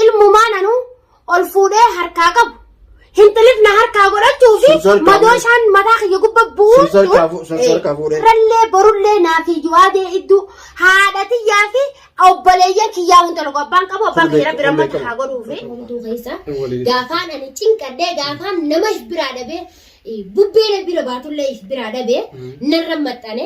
Ilmumaan anuu ol fuudhee harkaa qabu. Hinxilif na harkaa godhachuu fi Sun salphaa madoo fuudhe. isaan mataa kiyya gubba bu'uun Sun salphaa fu- sun salphaa fuudhe. Rallee borullee naa fi yuwaadee idduu haadha tiyyaa fi obboleeyyan kiyyaa hunda tokko abbaan qabu abbaan Sun kiyya rabbi beekamu, rammata beekamu. haa godhuu fi. Hunduu keessa Waliin. gaafaan ani cinqadhee gaafaan nama if biraa dhabee eh, bubbee na bira baatullee if biraa dhabee narra maxxane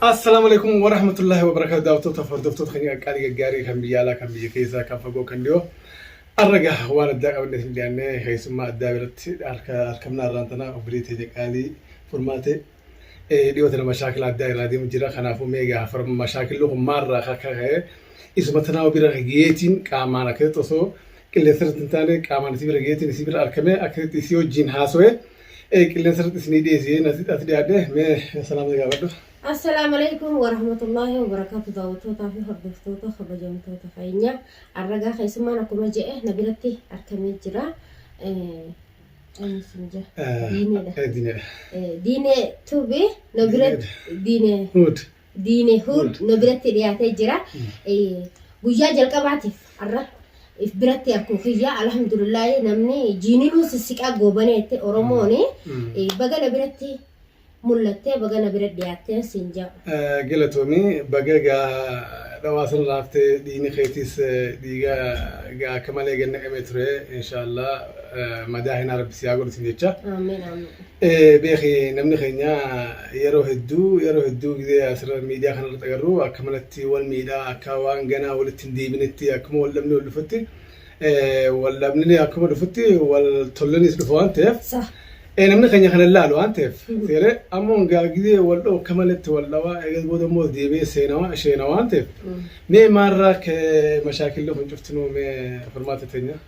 Assalaamu alaikum wa rahmatullahi wa barakaatu daawwattoota fi hordoftoota keenya qaqqaalii gaggaarii kan biyya alaa kan biyya keessaa kan fagoo kan dhiyoo arraga waan addaa qabannee isin dhiyaannee keessummaa addaa biratti harka harkamnaa irraan tanaa obbilee teenya qaalii furmaatee eh, dhiyoo tana mashaakila addaa irraa deemu jira kanaafuu meegaa far mashaakilli kun maarraa akka ka'e isuma tanaa obira geetiin qaamaan akkasitti osoo qilleensa irratti hin taane qaamaan isii bira geetiin isii bira argamee akkasitti isii wajjin haasawee Qilleensa irratti isinii dhiyeessee as dhiyaadhe mee salaamni gaafadhu. Assalaamu Aleykum Warahmatullaahi Wabarakaatu Daawwattootaa fi hordoftoota kabajamtoota keenya arragaa keessummaan akkuma je'e na biratti argamee jira. Eenyusinja? Diineedha. Diinee. Diinee tuubi na biratti diinee. Huud. Diine Huud nu biratti dhiyaatee jira. Guyyaa jalqabaatiif har'a if biratti akkuma kiyyaa alhamdulillahi namni jiininuu sissiqaa goobaneette Oromoon baga na biratti mul'attee baga na bira dhiyaatteen siin jedhu. Galatoomi baga gaa dhawaa san laaftee dhiini keetiis dhiiga gaa akka malee gannaqamee ture inshaallah madaa hinaa rabbi siyaa godhu sin jecha. Amiin amiin. Eh, beeki namni keenya yeroo hedduu yeroo hedduu gizee asirra miidiyaa kana irratti agarru akka manatti wal miidhaa akka waan ganaa walitti hin deebinetti akkuma wal dhabni wal dhufutti eh, wal dhabni akkuma dhufutti wal tollinis dhufa waan ta'eef Sa. eh, namni keenya kana ilaalu waan ta'eef seeree amma hungaa gizee wal dha'u akka malatti wal dhawaa eegas booda immoo deebi'ee seenawaa isheenawaa waan ta'eef mee maarraa kee mashaakillee kun cuftinuu mee furmaata teenyaa.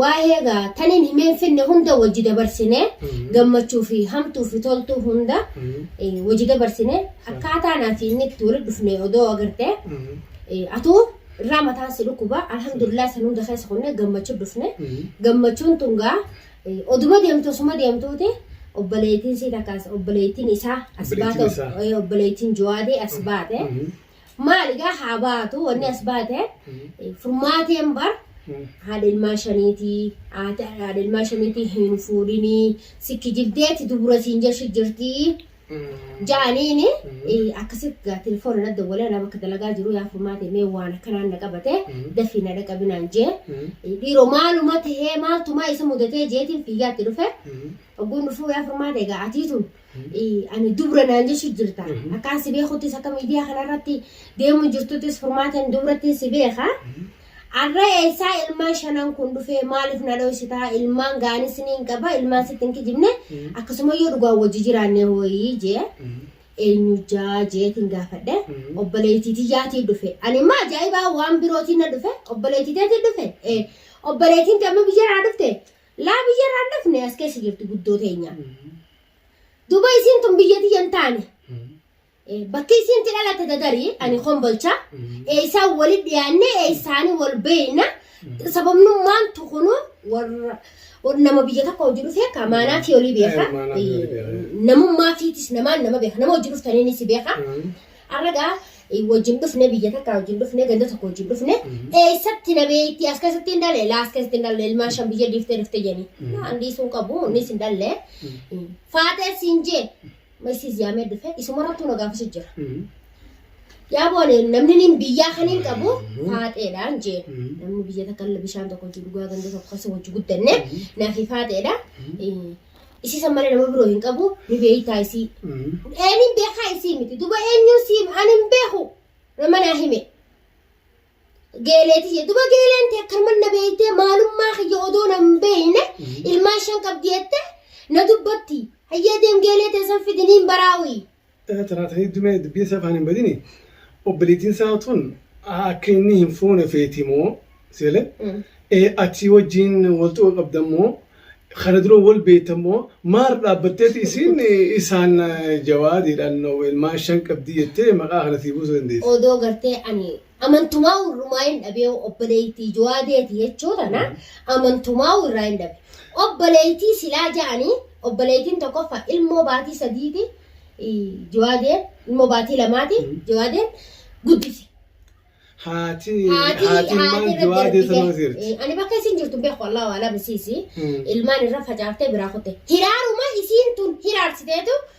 Waahee gaa taniin himeen finne hunda wajji dabarsine gammachuu fi hamtuu fi toltuu hunda eh, wajji dabarsine akkaataa naa fi inni itti walitti dhufne odoo agartee eh, atuu irraa mataan si dhukkuba alhamdulillah san hunda keessa kunne gammachuu dhufne gammachuun tun gaa eh, oduma deemtu osuma deemtuuti obboleettiin sii takkaas obboleettiin isaa as Obboleettiin baate isaa. eh, obboleettiin jawaadee as baate Maal egaa haa baatu wanni as baate furmaateen bar haadha ilmaa shaniitii haati haadha ilmaa shaniitii hin fuudhinii sikki jibdeetti dubura siin jeshi jirtii jaaniini akkasi gaa telefoona na dawwalee anaa bakka dalagaa jiru yaa furmaatee mee waan akkanaan na qabate dafii na dhaqabinaan jee dhiiroo maaluma tahee maaltumaa isa mudatee jeetiin fiigaatti dhufe ogguun dhufuu yaa furmaatee gaa atii tun ani dubra naan jechu jirta akkaan si beekuttis akka miidiyaa kanarratti deemu jirtuttis furmaateen dubrattiin si beeka arra eessaa ilmaan shanan kun dhufee maaliif na dhoysitaa ilmaan gaanis ni hin qaba ilmaan sitti hin kijibne akkasuma yoo dhugaa wajji jiraanne hooyii jee eenyu jaa jeetiin gaafadhe obboleettiitii jaatii dhufe ani immoo ajaa'ibaa waan birootiin na dhufe obboleettiiteetiin dhufe obboleettiin damma biyyaraa dhufte Laa biyya irraa hin dhufne as keessa jirti guddoo teenya. Duba isiin tun biyya tiyya hin taane. Eh, Bakki isiin itti dhalatte dadarii ani kombolcha. Eessaan walitti dhiyaannee eessaanii wal beekna. Sababnummaan tukunu warra warra nama biyya tokko hojii dhufee ka maanaa fi olii beeka. Eh, maanaa fi olii beeka. Eh, Namummaa fiitis namaan nama beeka. Nama hojii dhuftaniinis beeka. Arra gaa wajjin dhufne biyya takka wajjin dhufne ganda tokko wajjin dhufne eessatti na beekti as keessatti hin dhalle laas keessatti hin dhalle ilmaan shan biyya dhiiftee dhufte jedhani. Naan dhiisuu hin qabu innis hin dhalle. Faatee siin jee masiis yaamee dhufe isumarrattuu na gaafasa jira. Yaa boone namni niin biyyaa kan hin qabu faaxeedhaan jee namni biyya takka illee bishaan tokko wajjin dhugaa ganda tokko keessa wajjin guddanne naaf faaxeedha. Isii san malee nama biroo hin qabu ni beeytaa isii. Eenin beekaa isii miti duba eenyuun sii ani hin beeku nama naa hime. Geeleeti jee duba geeleen tee akkanuma na beeytee maalummaa kiyya odoo na hin beeyne ilmaan shan qabdi jette na dubbatti. Hayyee deem geelee tee san fidiniin baraawii. Tanaataniitti mee dubbiin isaa afaan hin badini. Obboleettiin isaa tun akka inni hin fuune feeti moo seele achii wajjin wal xuqa qabdan moo kana dura wal beektan moo maal dhaabbatteeti isiin isaan jawaadiidhaan ilmaan shan qabdii jettee maqaa kana sii buusuu dandeessi. Odoo gartee ani Amantumaa'u irrumaa hin dhabee obboleettii jawaadeeti jechuu tana amantumaa'u irraa hin dhabe. Obboleettii silaa ja'anii obboleettiin tokkoffa ilmoo baatii sadiiti jawaadeen ilmoo baatii lamaati jawaadeen guddise. Haati haati haati ilmaan irra jawaadee darbite. sanoo jirti. Eh, Ani bakka isin jirtu beeku Allah waala bisiisi. Hmm. Ilmaan irra facaaftee biraa kutte. Hiraaruma isiin tun hiraarsiteetu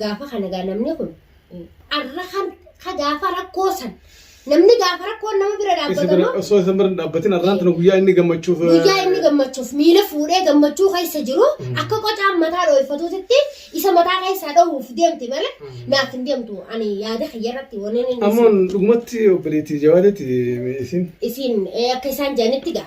Gaafa kana gaa namni kun arra kan ka gaafa rakkoo san namni gaafa rakkoon nama bira Isa dhaabbata bira moo osoo isa bira hin dhaabbatin arraan tana guyyaa inni gammachuuf. guyyaa inni gammachuuf miila fuudhee gammachuu keessa jiru akka qocaan mataa dhooffatuutitti isa mataa keessaa dhohuuf deemti malee naaf hin deemtu ani yaada kiyya irratti waneen inni Ammoon dhugumatti obboleettii jawaadeetti isiin. isiin eh, akka isaan jedhanitti gaa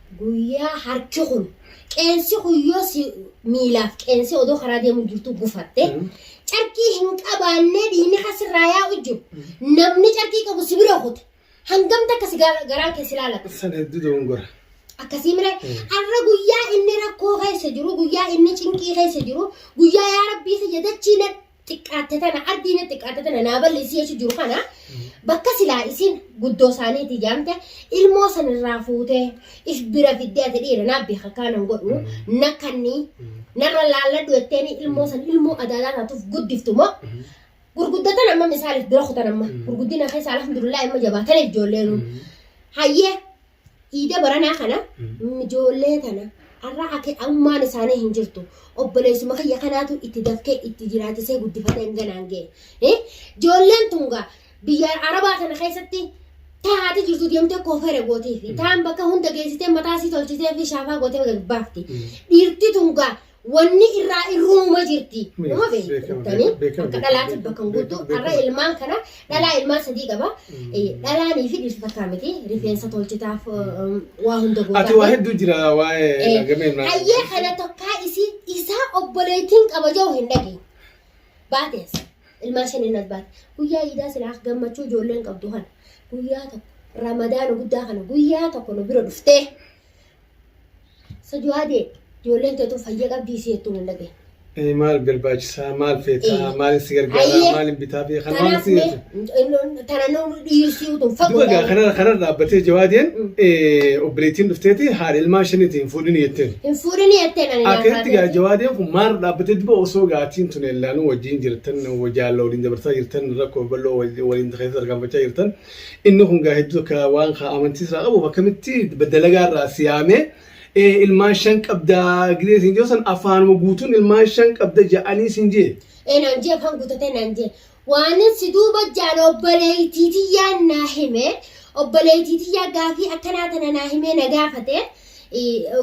Guyyaa harki kun qeensi kun yoo si miilaaf qeensi odoo karaa deemuu jirtu gufatte carqii hin qabaannee dhiigni kan sirraa yaa'u jiru namni carqii qabu si bira kute hangam takka si gaara- garaa kee si laalata Sana hedduu dogongora. akkasii mire har'a guyyaa inni rakkoo keessa jiru guyyaa inni cinqii keessa jiru guyyaa yaa rabbii kiyya dachii na xiqqaatte tana ardiina xiqqaatte tana naa balleessi jechu jiru kana bakka silaa isin guddoo isaaniiti jaamte ilmoo san irraa fuutee if bira fiddee ati dhiira naa beeka kaanan godhu na kanni narra laalladhu jetteeni ilmoo san ilmoo adaadaa taatuuf guddiftu moo gurguddatan amma misaaliif bira kutan amma gurguddina keessa alhamdulillah amma jabaataniif ijoolleenu hayyee Iida baranaa kana ijoollee tana arra ake ammaan isaanii hin jirtu obboleessuma kiyya kanaatu itti dafkee itti jiraachisee guddifatee hanganaan ga'e. Eh, Ijoolleen tun gaa biyya arabaa tana keessatti taa'aati jirtu deemtee koofeera gootiifi taan bakka hunda geessitee mataa sii tolchitee fi shaafaa gootee gad baafti. Dhiirti tun gaa wanni irraa irruuma jirti. Nama beektanii akka dhalaatiif bakka hin guutu har'a ilmaan kana dhalaa ilmaan sadii qaba. Dhalaanii fi dhirsa takkaa miti rifeensa tolchitaaf waa hunda gootaa. Ati waa hedduu jira waa'ee gamee ilmaan. Hayyee kana tokkaa isii isaa obboleettiin qaba jiru hin dhageenye. Baatees ilmaan shan innas baate. Guyyaa iidaa silaa gammachuu ijoolleen qabdu kana guyyaa tokko ramadaana guddaa kana guyyaa tokko nu bira dhuftee. Sajuwaadee ijoolleen teetu fayya qabdii si jettu mul'ate. Eh, maal barbaachisaa maal feetaa Eh. maal si gargaaraa Ayyee. maal hin bitaa fi kan waan Kanaaf si mee jettu. tana nuun dhiyeessii utuu Duba fagoo gaa kanarra kanarra dhaabbatee jawaadeen Mm. eh, obboleettiin dhufteeti haadha ilmaan shaniitiin fuudhin jetteen. hin fuudhini jettee nani Akkatti gaa jawaadeen kun maal dhaabbatee duba osoo gaatiin tun ellaanuu wajjin jirtan wajjaalla waliin dabarsaa jirtan rakkoo bal'oo wal- waliin keessa tarkaanfachaa jirtan Inni kun gaa hedduu akka waan kaa amantii irraa qabuuf akkamitti dalagaa irraa si yaamee ee ilmaan shan qabda gidee siin jiru san afaanuma guutuun ilmaan shan qabda ja'anii siin jee. Ee naan jee afaan guutatee naan jee. Waanin si duuba jaan obboleettii tiyyaan naa hime obboleettii tiyyaa gaafii akkanaa tana naa himee na gaafate.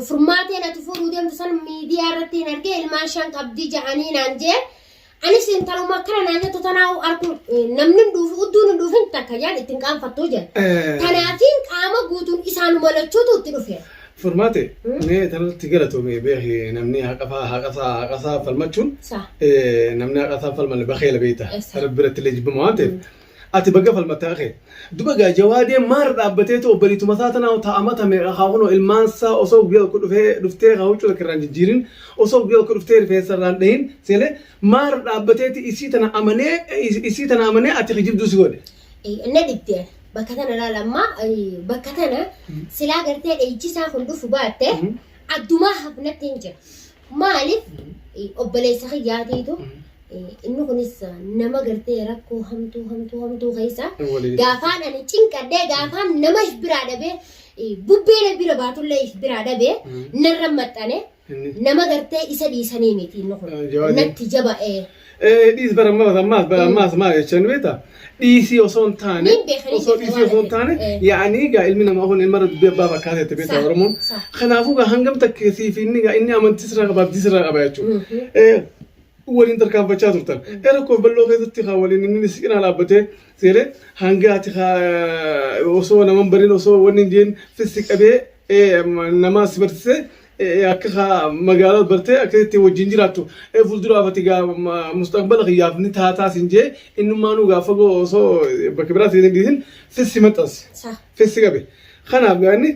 Furmaatee natu fuudhuu deemtu san miidiyaa irratti hin argee ilmaan shan qabdi ja'anii naan jee. Anis intaluma akkana naa jettu tanaa'u arguun eh, namni hin dhuufu udduun hin dhuufin takka yaan ittiin qaanfattuu jedha. Eh. Tanaafiin qaama guutuun isaanuma lachuutu itti dhufe. Furmaate mee tanatti galatoome beeki namni haqasaa haqasaa haqasaa falmachuun Sa. eh, namni haqasaa falmalle bakeela beekta Yes, sir. rabbi irratti illee jibbama waan ta'eef Ati baga falmatte haqa kee. Duba egaa jawaadeen maarra dhaabbateetu obbaliituma isaa tana hoo taa amata meeqa kaa kunoo ilmaan isaa osoo guyyaa tokko dhufee dhuftee kaa huccuu takka irraan jijjiirin osoo guyyaa tokko dhuftee rifeensa irraan dhahin seene maarra dhaabbateeti isii tana amanee isii tana amanee ati kijibduu si godhe. na dhibde bakka tana laal amma bakka tana silaa gartee dhayichisaa kun dhufu baatte addumaa hafnatti hin jira. Maaliif obboleessa kiyyaatiitu inni kunis nama gartee rakkoo hamtuu hamtuu hamtuu keessa gaafaan ani cinqadhee gaafaan nama if biraa dhabee bubbee na bira baatullee if biraa dhabee narra maxxane nama gartee isa dhiisanii miti inni kun natti jaba'ee. Eh, dhiis bara ammas ammas bara ammas maal jechaa nu beektaa? Dhiisii osoo hin taane Nin beekanii osoo jette dhiisii waan osoo hin taane ta'e. Eh. yaa'anii egaa ilmi namaa kun ilma irra dubbii abbaa fakkaata jette beektaa Sa- Oromoon. sa- Kanaafuu egaa hangam takka siif inni egaa inni amantii sirraa qaba abdii sirraa qaba jechuudha. Mhm. Eh, waliin tarkaanfachaa turtan. Eh, Rakkoo bal'oo keessatti haa waliin inni si cinaa dhaabbatee seeree hanga ati haa osoo naman barin osoo wanni hin jeen fissi qabee eh, nama si barsiisee akka kaa magaalaa bartee akka itti wajjin jiraattu ee fuulduraaf ati gaa ma- mustaqbala kiyyaaf ni taataa sin jee innummaanuu gaa fagoo osoo bakka biraatti hin dhiisin sissi maxxanse Sah. sissi qabe kanaaf gaa inni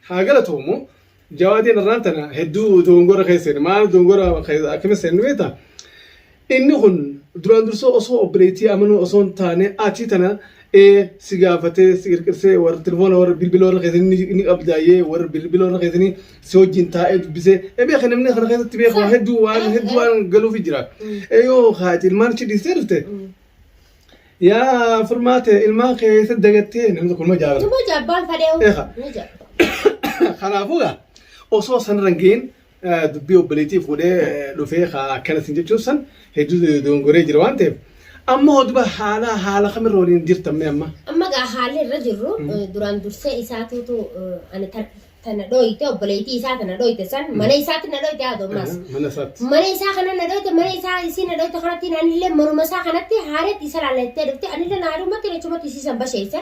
haa galatoomu jawaadeen irraan tana hedduu dogongora keessa seene maal dogongora keessa akkamitti seenne beektaa Inni kun duraan dursee osoo obboleettii amanuu osoo hin taane ati tana ee si gaafatee si qirqirsee warra telefoona warra bilbila warra keessanii ni qabdaayyee warra bilbila warra keessanii si wajjin taa'ee dubbisee ee beeka namni kana keessatti beeka waa hedduu waan hedduu waan galuufi jira ee yoo kaati ilmaan ishee dhiistee dhufte yaa furmaate ilmaan kee isa dagattee namni tokko nama jaabata. Nama jaabbaan fadhee Eegaa. ni jira. Kanaafuu gaa osoo sanarra hin ga'iin dubbii obboleetiif godhee dhufee akkana sin jechuun san hedduu dogongoree jira waan ta'eef amma hoduba haala haala kamirra waliin jirtamme amma. Amma gaa haalli irra jirru duraan dursee isaatuutu ani tana dhooyte obboleettii isaa tana dhooyte san mana isaatti na dhooyte haadha ammaas. Mana isaatti. Mana isaa kana na dhooyte mana isaa isii na dhooyte kanatti anillee manuma isaa kanatti haareetti isa laallattee dhufte anillee na haadhumatti lachumatti isii san basheesse.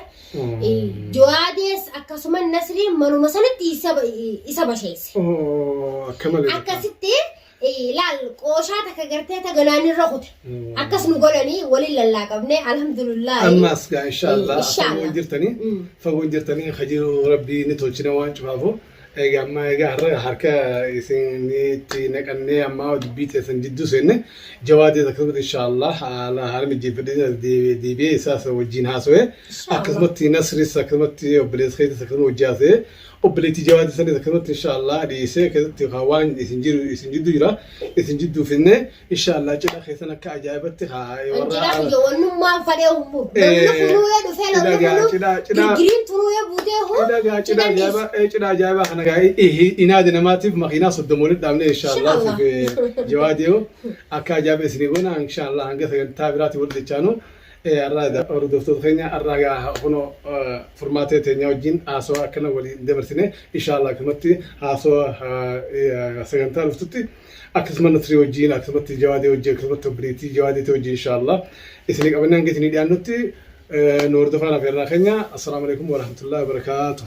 Jawaadees akkasuma Nasriin manuma sanatti isa ba- isa basheesse. Oo, akka malee. Akkasitti eh, laal qooshaa takka gartee ta ganaan irra kute. Mm. Akkas nu godhanii waliin lallaaqabnee alhamdulillah. Ammaas gaa inshaallah Eh, inshaallah. fagoo jirtanii Mm. fagoo jirtanii hajii rabbii ni tolchina waan cufaafu. Egaa amma egaa har'a harka isinitti naqannee amma dubbii teessan jidduu seenne jawaadee akkasumatti inshaallah haala haala mijeeffadhee deebi'ee isaas wajjin haasawee akkasumatti nasris akkasumatti obboleessa keessas akkasuma hojii haasawee obboleettii jawaadee sanis akkasumatti inshaallah dhiyeessee keessatti waan isin jiru isin jidduu jira isin jidduu finnee Inshallah cidha keessan akka ajaa'ibatti haa Cidha kiyya wannummaan fadhee hummu. Namni funuu'ee dhufee namni funu digiriin tunuu'ee buutee huu. Cidha ajaa'ibaa cidha ajaa'ibaa kana gaa inaadi namaatiif makiinaa soddoma walitti dhaabnee inshallah jawaadiyoo akka ajaa'iba isinii goona inshallah hanga sagantaa biraatti wal jechaanu. Arraa hordoftoota keenya arraa gaa kunoo furmaatee teenyaa wajjin haasawaa akkana waliin dabarsine inshallah kanatti haasawaa sagantaa dhuftutti. akkasuma nasrii wajjiin akkasumatti jawaadee wajjiin akkasumatti obboleettii jawaadeetii wajjiin inshaallah isinii qabannee hanga isinii dhiyaannutti nu hordofaa lafa irraa keenya assalaamu alaikum warahmatullahi wabarakaatuh